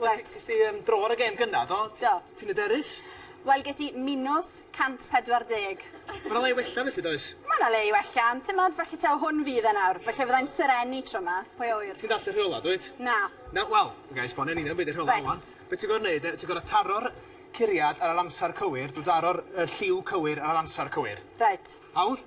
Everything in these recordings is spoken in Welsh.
Reit. Ti ti yym draw ar y gêm gynta do? Do. Ti'n yderus? Wel ges i minws 140. Ma' 'na le i wella felly does? Ma' 'na le i wella ond t'mod felly taw hwn fydd e nawr felly fyddai'n serennu tro 'ma, pwy a ŵyr? Ti'n dallt y rheola dwyt? Na. Na wel, gai esbonio yn union be' 'di'r rheola rŵan. Reit. Be' ti gor'o' neud de ti gor'o' taro'r curiad ar yr amsar cywir drw daro'r y lliw cywir ar yr amsar cywir. Reit. Hawdd?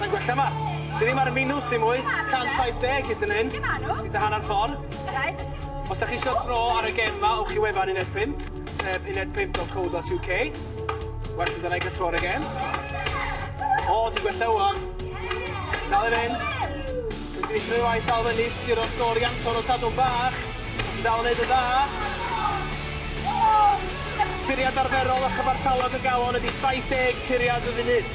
Mae'n gwella 'ma. Ti ddim ar y minws dim mwy. 170 hyd yn hyn. Ti tua hanner ffor. Reit. Os 'dach chi isio tro ar y gem 'ma, ewch i wefan uned pump, sef uned pump dot co dot UK. Well i ga'l tro ar y gem. O, ti'n gwella ŵan. Dal i fynd. Ti'n gallu creu waith dal fyny, sguro sgôr i Anton o Sadwrn Bach. Ti'n dal yn neud yn dda. Curiad arferol a chyfartalog y galon ydi 70 curiad y funud.